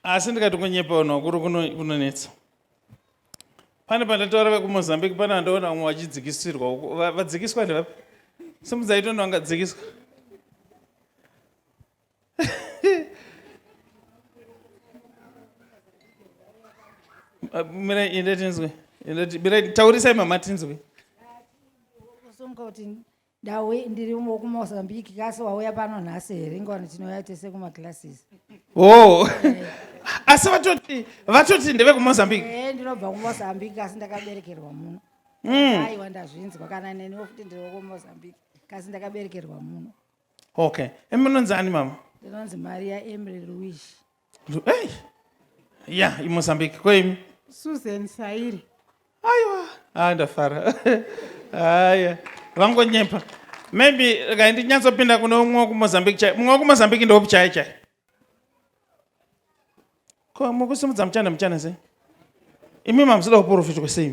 asi ndikati kunyepa vanhu vakuru kunonetsa pane pandataura vekumozambique pane vandaona vamwe vachidzikisirwa vadzikiswa ndevapi simudzaitoni vangadzikiswa mira inde tinzwe taurisa imama tinzwe Ndauya ndiri mu- kuMozambique kasi wauya pano nhasi here ingwani tinouya tese kumaclasses. Oh. Asi vatoti vatoti ndevekumozambique. Eh ndinobva kuMozambique kasi ndakaberekerwa muno. Mm. Aiwa ndazvinzwa kana neniwo futi ndiri kuMozambique kasi ndakaberekerwa muno. Okay. Emunonzi ani mama? Ndinonzi Maria Emily Luis. Lu- Hey! Ya, iMozambique kweimi. Susan Sairi. Aiwa, ah ndafara. Haya, vangonyepa. Maybe regai ndinyatsopinda kune umwe wekuMozambique chai. Mumwe wekuMozambique ndeupi chai chai? Ko mukusimudza muchana muchana sei? Imi mamusida kuporofitwa sei?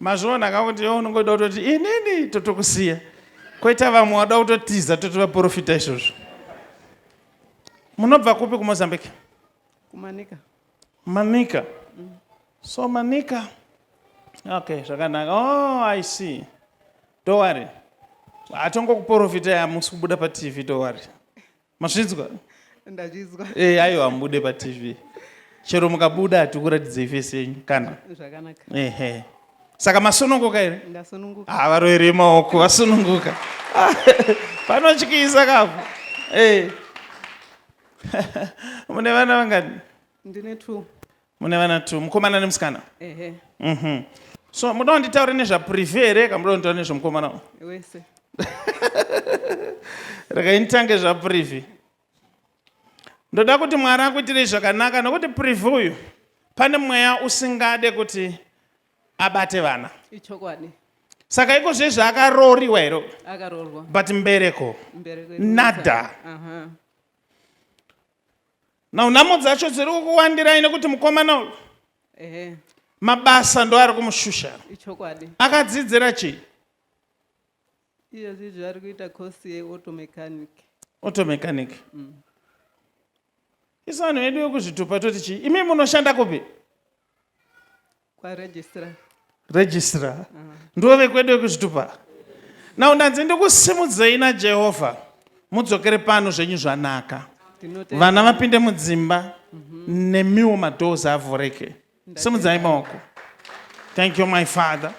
mazviona ka kuti iwe unongoda kutoti inini totokusiya koita vamwe wada kutotiza toti vaprofita izvozvo munobva kupi kumozambique kumanika manika mm. so manika okay zvakanaka oh i see dowari hatongokuprofitai hamusi kubuda patv dowari mazvinzwa ndazvinzwa e, eh, ayo hamubude patv chero mukabuda hatikuratidzei fesi yenyu kana zvakanaka ehe saka masununguka here ndasununguka ha ah, varoere maoko vasununguka panotyisa kapo e. mune vana vangani ndine two mune vana two mukomana nemusikana ehe Mhm. so muda kunditaure nezvaprivi here ka muda kunditaure nezvemukomana uyu? wese regai nditange zvaprivi ndoda kuti mwari akuitirei zvakanaka nokuti privi uyu pane mweya usingade kuti abate vana ichokwadi saka iko zve zvaakarooriwa here uyu? akaroorwa but mbereko mberi kwedu Nada. aha now nhamo dzacho dziri kukuwandirai nekuti mukomana uyu ehe mabasa ndo ari kumushusha ichokwadi akadzidzira chii iyezvi zvaari kuita course yeauto mechanic auto mechanic isu vanhu vedu vekuzvitupa toti chii imi munoshanda kupi kwaregistrar registrar mm. ndivo vekwedu vekuzvitupa now ndanzi ndikusimudzei najehovha mudzokere pano zvenyu zvanaka vana vapinde mudzimba mm -hmm. nemiwo madoors avhureke simudzai maoko thank you my father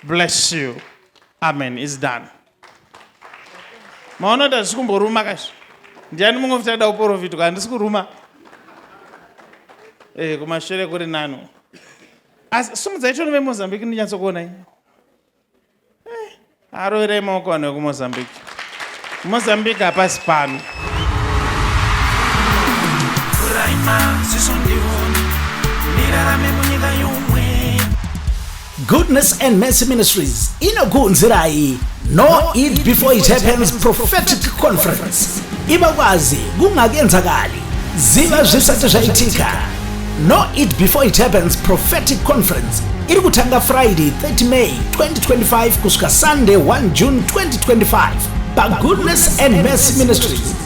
bless you amen is done maona kuti hazvisi kumboruma kazvi ndiani mumwe kuti ada kuporofitwa handisi kuruma e, kumashure kuri nano asi sumudzai chono vemozambique ndinyatsokuonai eh, aroverei maoko vanhu vekumozambique mozambique hapasi pano Goodness and Mercy Ministries inokuunzirai No Eat Before It Happens Prophetic Conference iva kwazi kungakenzakali ziva zvisati zvaitika No Eat Before It Happens Prophetic Conference iri kutanga Friday 30 May 2025 kusvika Sunday 1 June 2025 paGoodness and Mercy Ministries